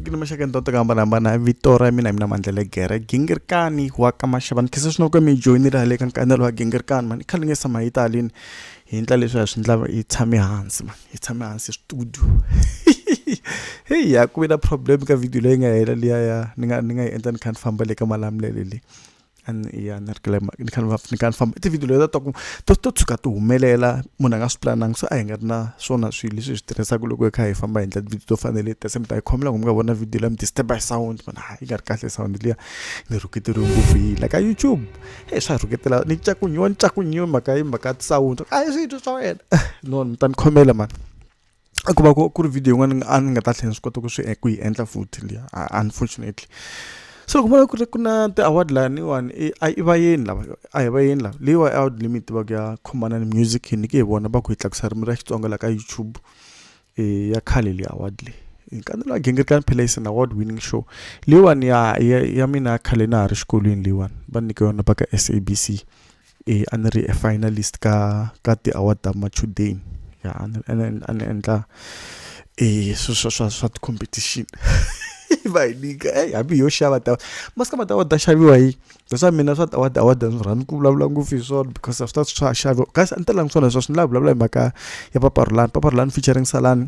ni maxaka ndhawu to hambanahambana vito ra mina hi mina mandlele gere gingirikani wa ka maxava ni khese swinoko mi joyinile hale ka nkanelo wa gingirikani mani khale nge sama hi talini hi ndla leswi hi swi ndlava hi tshame hansi mani hi tshame hansi studio heyi ya ku ve na problem ka video leyi nga hela liya ya ni nga ni nga yi endla ni kha ni famba le ka malamulele leyi and ya ni ri kule ni kha ni va ni kha ni famba i ti-video leti a ti to to tshuka ti humelela munhu a nga swi pulanangi so a hi nga ri na swona swilo leswi hi swi tirhisaka loko hi kha hi famba hi endla ti-video to fana na leti kasi mi ta yi khoma loko mi nga vona video leyi mi disturb-a hi sound mi vona ha yi nga ri kahle sound liya ni rhuketeriwe ngopfu hi la ka YouTube e swa rhuketela ni cakunyiwa ni cakunyiwa mhaka yi mhaka sound a hi swilo swa wena no mi ta ni khomela mani. a ku va ku ku ri video yin'wana a ni nga ta tlhela swi kota ku swi e, ku yi endla futhi liya unfortunately so ku vona ku ri ku na ti-award laniwani e, a i vayeni lava a hi vayeni lava leyiwa award leyi mi yi tivaka ya khomanani music hi nyike hi vona va ku hi tlakusa ririmi ra xitsonga la ka youtube um ya khale leyi award leyi hi kandzela wa gingirikani phelaisini award winning show leyiwani ya ya ya mina ya khale na ha ri xikolweni leyiwani va nyike yona va ka s a b c e a ni ri e finalist ka ka ti-award ta machudeni ya a ni a ni a ni endla e swilo swa swa swa ti-competition va hi nyika eyi hambi hi yo xava ta masiku lama ti-award ta xaviwa hi that's why mina swa ti-award award a ni swi rhandzi ku vulavula ngopfu hi swona because a swi ta swa ha xaviwa kasi a ni talanga swona sweswo ni lava ku vulavula hi mhaka ya Papa Rhulani Papa Rhulani featuring Salani.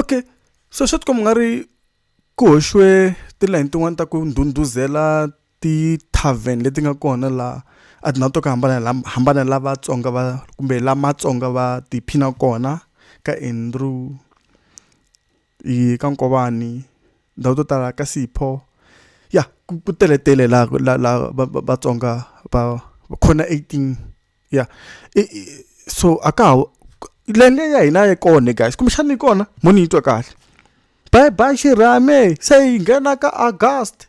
okay so swi tikomba nga ri ku hoxiwe tilayini tin'wana ta ku ndhundhuzela ti-tarven leti nga kona laha a ti na to ka hambana la vatsonga va kumbe la matsonga va tiphina kona ka andrew i ka Nkovani ndhawu to tala ka Sipho ya ku ku teletele laha ku la la va va Vatsonga va va khona eighteen ya i i so a ka ha leyi ya hina a yi kona le guys kumbexana yi kona mo ni yi twa kahle bye bye xirhami se hi nghena ka August.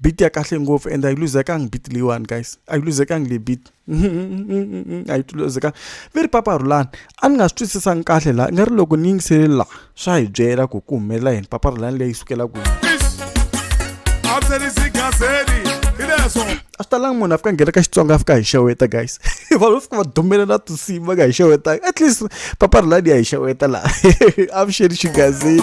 beat ya kahle ngopfu and a yi luzekangi beat leyiwani guys a yi luzekangi le beat a yi luzekangi ve ri papa rhulani a ni nga swi twisisangi kahle laha i nga ri loko ni yingisele laha swa hi byela ku ku humelela yini papa rhulani leyi sukela kwihi a swi talangi munhu a fika nghena ka xitsonga a fika hi xeweta guys vanhu va fika va dumela na tinsimu va nga hi xeweta at least papa rhulani ya hi xeweta laha avuxeni xigazini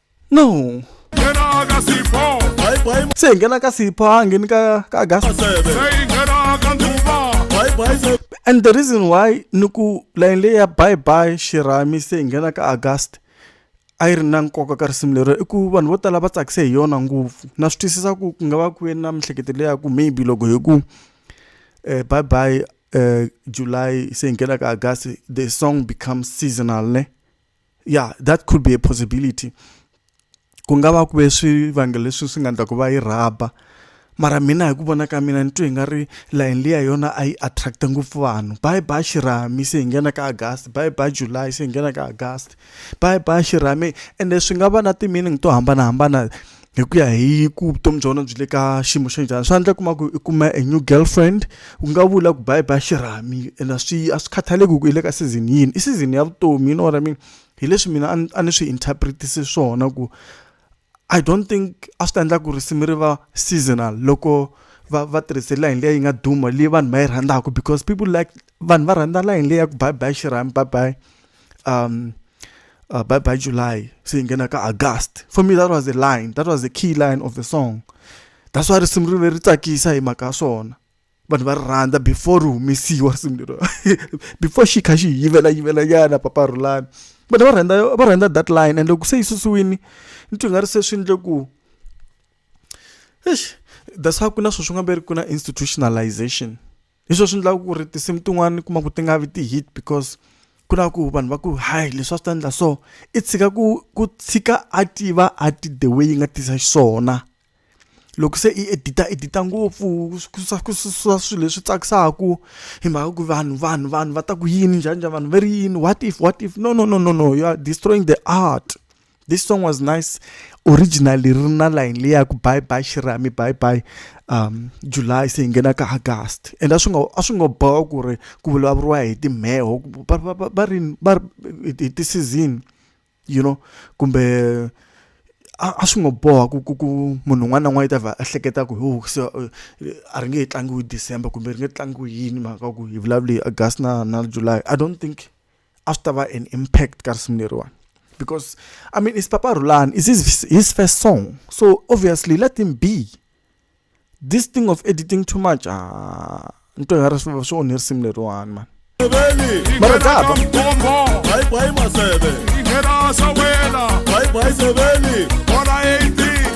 no se hi nghena ka sipho a ngheni ka ka gas and the reason why ni ku layini leyi ya bye bye xirhami se hi nghena ka august a yi ri na nkoka ka risimu lero i ku vanhu vo tala va tsakise hi yona ngopfu na swi twisisa ku ku nga va ku yeni na miehleketo leya ku maybe loko hi ku um eh, bye bye um eh, july se hi nghena ka august the song becomes seasonal ne ya that could be a possibility ku nga va ku ve swivangelo leswi swi nga ndla ku va yi rhaba mara mina hi ku vona ka mina ni twe hi nga ri layeni liya yona a yi attract-a ngopfu vanhu bayi ba xirhami se hi nghena ka agasti bayi ba july se hi nghena ka agasti bayi ba xirhami ende swi nga va na ti-meaning to hambanahambana hi ku ya hi ku vutomi bya wena byi le ka xiyimo xa njhani swi endla kuma ku i kuma a new girlfriend u nga vula ku bayi bayi xirhami ene swi a swi khathaleki ku i le ka season yini i season ya vutomi you know what I mean hi leswi mina a ni swi interpret-ise swona ku I don't think a swi ta endla ku risimu ri va seasonal loko va va tirhise layini leyi nga duma leyi vanhu va yi rhandzaka because people like vanhu va rhandza layini leyi ya ku bayi bayi xirhami bayi bayi. um, uh, by, by July, saying Genaka August. For me, that was the line, that was the key line of the song. That's why risimu ri ri tsakisa hi mhaka ya swona vanhu va ri rhandza before ri humesiwa risimu lero before xi kha xi yivela yivela nyana papa rhulani vanhu va rhandza va rhandza that line and loko se yi susiwini ni twi nga ri se swi endle ku eish that's why ku na sweswi nga ve ri ku na institutionalization hi swo swi endlaka ku ri tinsimu tin'wani kuma ku ti nga vi ti-hit because ku na ku vanhu va ku hayi leswi a swi ta endla so i tshika ku ku tshika a tiva a ti the way yi nga tisa xiswona loko se i edita edita ngopfu ku susa ku susa swilo leswi tsakisaka hi mhaka ku vanhu vanhu vanhu va ta ku yini njhani njhani vanhu va ri yini what if what if no no no no no you are destroying the art. this song was nice originally ri na line leyi ya ku bye bye xirami bye bye um july se hi nghena ka august and a swi nga a swi nga boha ku ri ku vulavuriwa hi timheho va ri va hi ti-season you know kumbe a swi ngo boha ku ku ku munhu un'wana na un'wana i ta va a hleketa ku ho se a ri nge he tlangiwi december kumbe ri nge tlangiwi yini mhaka ku hi vulavule august na na july i don't think a swi ta va an impact ka risimu leriwani because i mean is papa rulani is his, his first song so obviously let him be this thing of editing too much ah, nto ya ri swi onhe risimu leriwani mani mara daba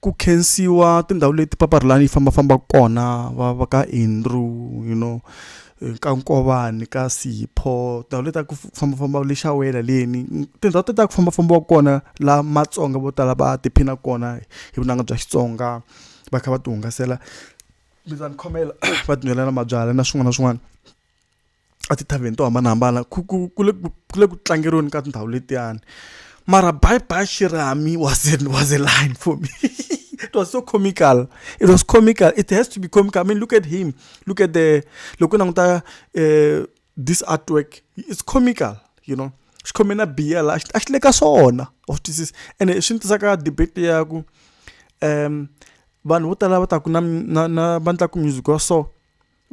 ku khensiwa tindhawu leti paparilani yi fambafamba kona va va ka andrew you know ka nkovani ka sipho tindhawu leti ta ku fambafamba le xawela leni tindhawu ti ta ku fambafambiwa kona la matsonga vo tala va tiphina kona hi vunanga bya xitsonga va kha va ti hungasela mi ta ni khomela va tinwela na mabyalwa na swin'wana na swin'wana etithavheni to hambanahambana ku ku ku le ku le ku tlangeriweni ka tindhawu letiyani mara bye bye shirami was it was a line for me it was so comical it was comical it has to be comical i mean look at him look at the loko languta uh, this artwork it's comical you know xi khome na biya la a xi le ka swona wa swi twisisa ene swi ni tisaka debate ya ku um vanhu vo tala va ta ku na na na va ndlaku music wa so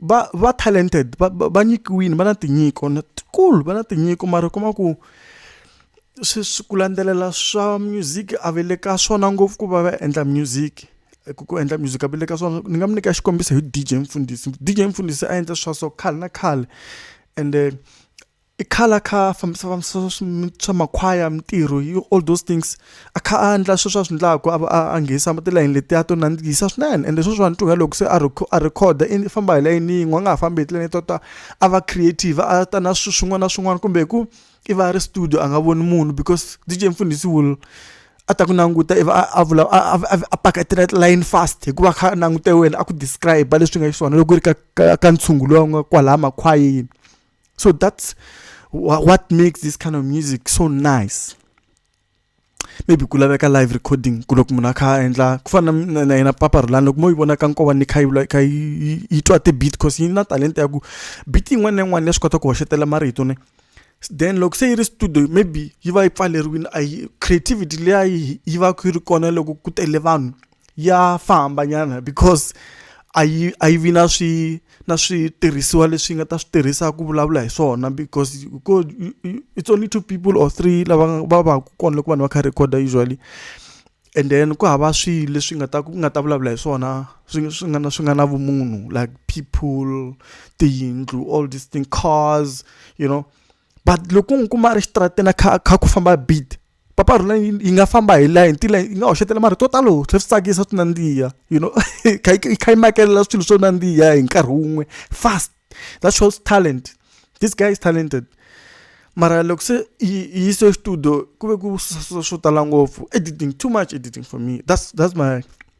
va va talented va va va nyikiwile va na tinyiko na tikulu va na tinyiko mara u kuma ku swi swi ku landzelela swa music a va le ka swona ngopfu ku va va endla music ku ku endla music a va le ka swona ni nga mi nyika xikombiso hi D_J Mfundisi D_J Mfundisi a endla swa so khale na khale ende. I khale a kha a fambisa fambisa swa makhwaya mintirho yi all those things a kha a endla sweswi a swi endlaku a a a nghenisa tilayini letiya to nandzikisa swinene ende sweswiwani tlula loko se a a record-a i famba hi layeni yin'we a nga ha fambi hi tilayini to ta a va creative a ta na swilo swin'wana na swin'wana kumbe hi ku i va a ri studio a nga voni munhu because D_J Mfundhisi will a ta ku languta ivi a a vula a a a pakatela tilayini fast hikuva a kha a langute wena a ku describe-a leswi nga xiswona loko ku ri ka ka ka ntshungu lowu nga kwalaya makhwayeni. So that's what makes this kind of music so nice. maybe ku laveka live recording ku loko munhu a kha a endla ku fana na yena papa rulani loko mo yi vona ka nkova ni kha yi kha yi twa ti-beat cause yi na talenta ya ku beat yin'wana na yin'wana ya swi kota ku hoxetela marito ne then loko se yi ri studio maybe yi va yi pfaleriwile a yi creativity leya yi va ku yi ri kona loko ku tele vanhu ya famba nyana because a yi a yi vi na swi na switirhisiwa leswi yi nga ta swi tirhisa ku vulavula hi swona because ko it's only two people or three lava va va ku kona loko vanhu va kha recorder usually and then ku hava swilo leswi nga ta ku nga ta vulavula hi swona swi swi nga na swi nga na vumunhu like people tiyindlu all these thing cars you know but loko u n'wi kuma a ri exitarateni a kha a kha ku famba beat. papa rhula yi nga famba hi la hi ntila yi nga hoxetela marito yo talo tlhe swi tsakisa swi nandziha you know yi kha yi makelela swilo swo nandziha hi nkarhi wun'we fast that shows talent this guy is talented mara loko se yi yise exitudio ku ve ku swo tala ngopfu editing too much editing for me that's that's my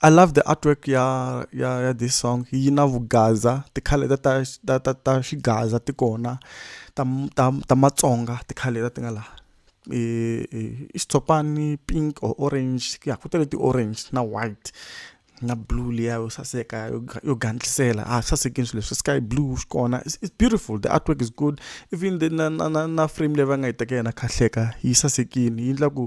I love the artwork ya ya ya this song yi na vugaza ti-colour ta ta ta ta ta xigaza ti kona ta ta ta matsonga ti-colour leti ti nga laha i i i xitshopani pink or orange ya ku tale ti-orange na white na blue liya yo saseka yo yo gandlisela a swi sasekile swilo leswi sky blue xi kona it's it's beautiful the artwork is good even the na na na na frame leyi va nga yi teka yona kahleka yi sasekile yi endla ku.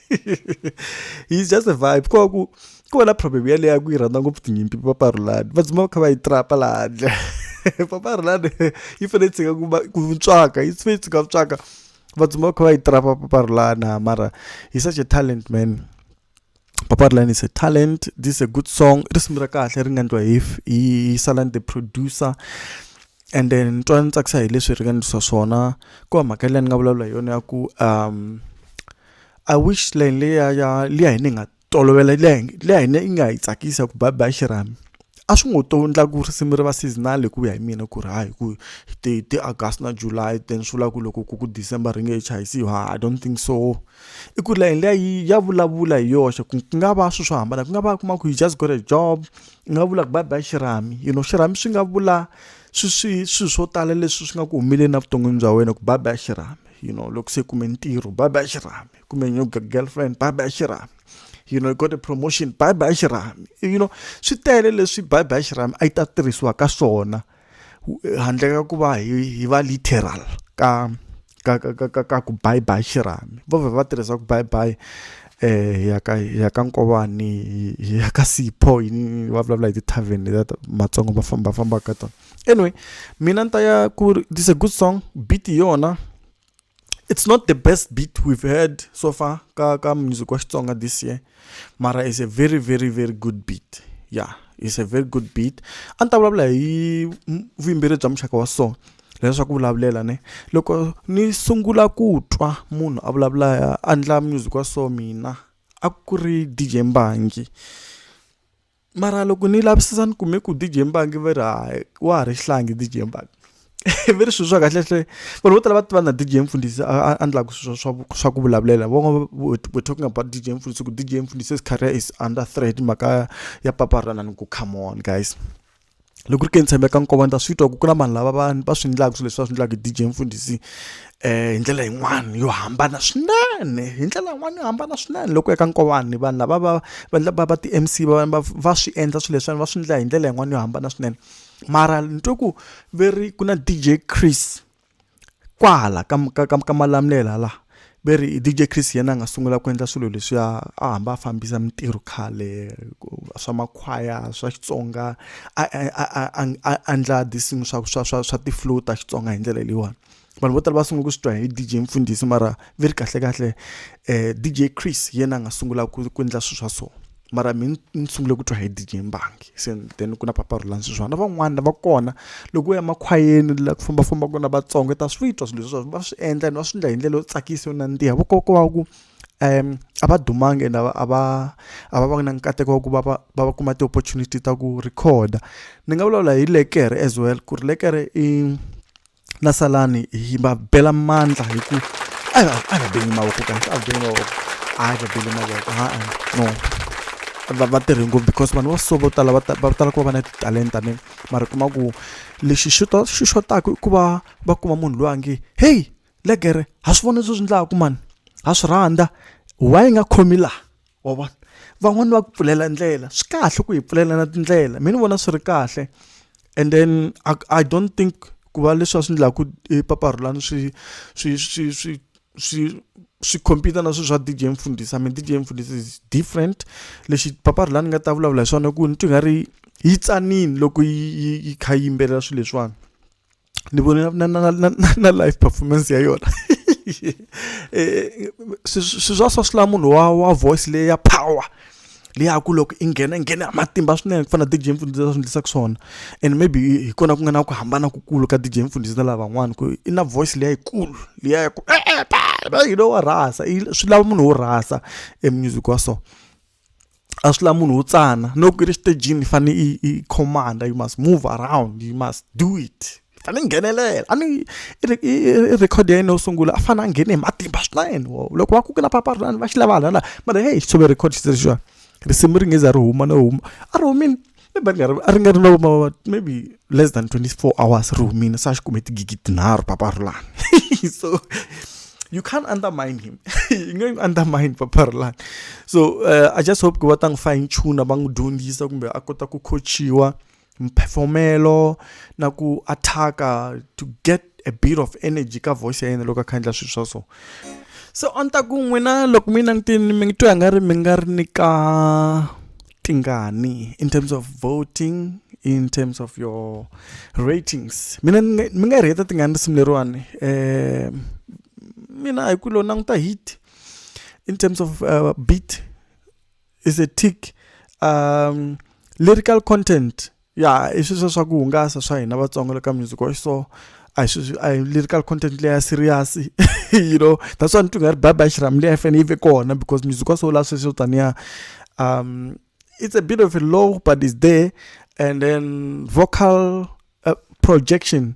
he's just a vibe ko ku ku va na problem yaleyo ya ku yi rhandza ngopfu tinyimpi paparulani va dzima va kha va yi trapa laha handle paparulani yi fanele yi tshika ku tswaka yi fanele yi tshika ku tswaka va dzima va kha va yi trapa paparulani ha mara he's such a talent man paparulani is a talent this is a good song risimu ra kahle ri nga ndliwa hi hi salan the producer and then ni twa ni tsakisa hi leswi ri nga ndlisa swona ku va mhaka leyi ni nga vulavula hi yona ya ku um I wish line leya ya liya hi ni nga tolovela liya hi liya hi ne yi nga hi tsakisa ku ba ba xirhami a swi ngo to ndla ku risimu ri va seasonal hi ku ya hi mina ku ri hayi ku ti ti August na July then swi vula ku loko ku ku December ri nge he chayisiwi ha I don't think so i ku line liya yi ya vulavula hi yoxe ku ku nga va swi swo hambana ku nga va u kuma ku you just got a job u nga vula ku ba ba xirhami you know xirhami swi nga vula swi swi swi swo tala leswi swi nga ku humeleleni evuton'wini bya wena ku ba ba xirhami. you know loko se kume ntirho bye bye xirhami kumbe new girlfriend bye bye xirhami you know you got a promotion bye bye xirhami you know swi tele leswi bye bye xirhami a yi ta tirhisiwa ka swona handle ka ku va hi va literal ka ka ka ka ka ku bye bye xirhami vo vhe va tirhisa ku bye bye eh ya ka ya ka nkovani ya ka sipho yini va vulavula hi ti-tavern leta matsongo va famba famba ka tona anyway mina ni ta ya ku ri this a good song beat yona it's not the best beat we've heard so far ka ka music wa xitsonga this year mara is a very very very good beat yeah is a very good beat a ni ta vulavula hi vuyimbeleri bya muxaka wa so leswa ku vulavulela ne loko ni sungula ku twa munhu a vulavula a ndla music wa so mina a ku ri dj mbangi mara loko ni lavisisa ni kume ku DJ Mbangi va ri hayi wa ha ri xihlangi DJ Mbangi ve ri swilo swa kahlekahle vanhu vo tala va tiva na DJ Mfundhisi a endlaka swilo swa swa ku vulavulela van'wana we're talking about DJ Mfundhisi ku DJ Mfundhisi is career is under threat mhaka ya papa ra inani ku come on guys. loko ri ke ni tshembe ka nkovo ni ta swi twa ku ku na vanhu lava va va swi endlaka swilo leswi va swi endlaka hi D_J Mfundhisi hi ndlela yin'wani yo hambana swinene hi ndlela yin'wani yo hambana swinene loko u ya ka nkovani vanhu lava va va endla va va ti-M_C va va va swi endla swilo leswiwani va swi endla hi ndlela yin'wani yo hambana swinene mara ni twe ku ve ri ku na D_J Chris Kwala ka ka ka ka malamulelo hala ve ri DJ Chris hi yena a nga sungula ku endla swilo leswiya a hamba a fambisa mintirho khale swa makhwaya swa Xitsonga a a endla tinsimu swa swa swa swa ti-flute ta Xitsonga hi ndlela leyiwani vanhu vo tala va sungula ku swi twa hi DJ Mfundhisi mara ve ri kahlekahle DJ Chris hi yena a nga sungula ku ku endla swilo swa so. mara mi ni sungule ku twa hi dj mbangi se then ku na papa rulani sweswiwa na van'wana va kona loko u ya makhwayeni la ku fambafamba kona vatsongo ta swi twa swilo leswi va swi endla and va swi endla hi ndlela yo tsakisa yo nandziha vukoko wa ku um a va dumanga and a va a va a va va na nkateko wa ku va va va va kuma ti-opportunity ta ku record-a ni nga vulavula hi lekere as well ku ri lekere i na salani hi va bela mandla hi ku a va a va beli mavoko kahle a va beli mavoko a va beli mavoko ha no va va tirhi ngopfu because vanhu va so vo tala va va tala ku va va na titalenta ni mara kuma ku lexi xi to xi xotaku i ku va va kuma munhu loyi a nge heyi legere ha swi vona leswi swi ndlaku mani ha swi rhandza why yi nga khomi laha. wa vona van'wani va ku pfulela ndlela swi kahle ku hi pfulela na tindlela mi ni vona swi ri kahle and then i, I don't think ku va leswi va swi endlaku epapahulani swi swi swi swi swi swi compete na swilo swa dj mfundhisa mi dj mfundhisa is different lexi papahulani nga ta vulavula hi swona ku ni twi nga ri yi tsanini loko yi yi yi kha yi yimbelela swilo leswiwani ni vone na, na, na, na live performance ya yona eh, swi swa swa swi la munhu wa wa voice leyi ya power leyi ya ku loko i nghena i nghena matimba swinene ku fana na dj mfundhisi swi endlisaka swona and maybe hi kona ku nga na ku hambana kukulu ka dj mfundhisi na lavan'wana ku i na voice leyi yikulu leyi ya ku eh, eh, you know wa rhasa swi lava munhu wo rhasa e music wa so a swi lavi munhu wo tsana no ku ri xitejini i fanele i i command you must move around you must do it i fanele i nghenelela a ni i record ya yena yo sungula a fanele a nghene hi matimba swinene wo loko va ku ku na papalani va xi lava hala na mara heyi hi record xi ri xin'wana risimu ri nge za ri huma no huma a ri humile. ni ba ri nga ri a ri nga ri na vo maybe less than twenty four hours ri humile se a xi kume tigigi tinharhu papa ri lani so you can't undermine him yi nge n'wi undermine papa ri lani so uh, i just hope ku va ta n'wi fine tuna va n'wi dyondzisa kumbe a kota ku coachiwa mphefomelo na ku attack-a to get a bit of energy ka voice ya yena loko a kha endla swilo swa so se a ni ta ku n'wina loko mi langutini mi twa nga ri mi nga ri ni ka tingani in terms of voting in terms of your ratings mina mi nga ri heta tingani risimu leriwani eh mina hi ku lo languta hit in terms of uh, beat is a tick um lyrical content ya i sweswo swa ku hungasa swa hina vatsongo le ka music wa so a hi sweswi a hi lyrical content leya serious you know that's why ni twi nga ri baba xiram leyi fane yi ve kona because music wa so la sweswo taniya um it's a bit of a low but is there and then vocal uh, projection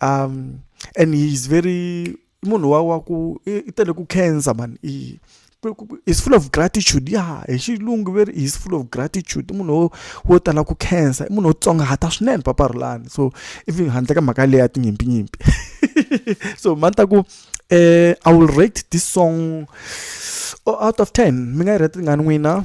um and he is very i munhu wa wa ku i tele ku khensa mani i is full of gratitude ya hi xilungu veri is full of gratitude i munhu wo tala ku khensa i munhu wo tsongahata swinene papa rulani so even handle ka mhaka leyi ya tinyimpinyimpi so mani ta ku eh i will rate this song oh, out of 10 mi nga yi rate tingani n'wina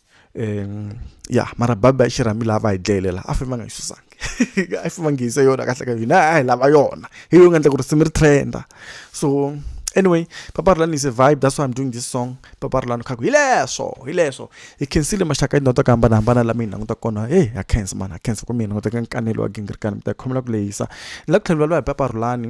um ya mara baba i xirhami laha va hi dlayelela a famba nga yi susangi a yi famba ngiyisa yona kahle ka hina a hi lava yona hi yo nga endla ku ri simi ri trenda so anyway paparulani is a vibe that's why i'm doing this song paparulani khaku hi leswo hi leswo hi khensile maxaka yi ndota ku hambanahambana lama yi languta kona heyi ha khensa mani ha khensa ku mi hi languteka nkanelo wa gingirikani mi ta khomela ku lehisa ni la ku tlhela ni vulavula hi paparulani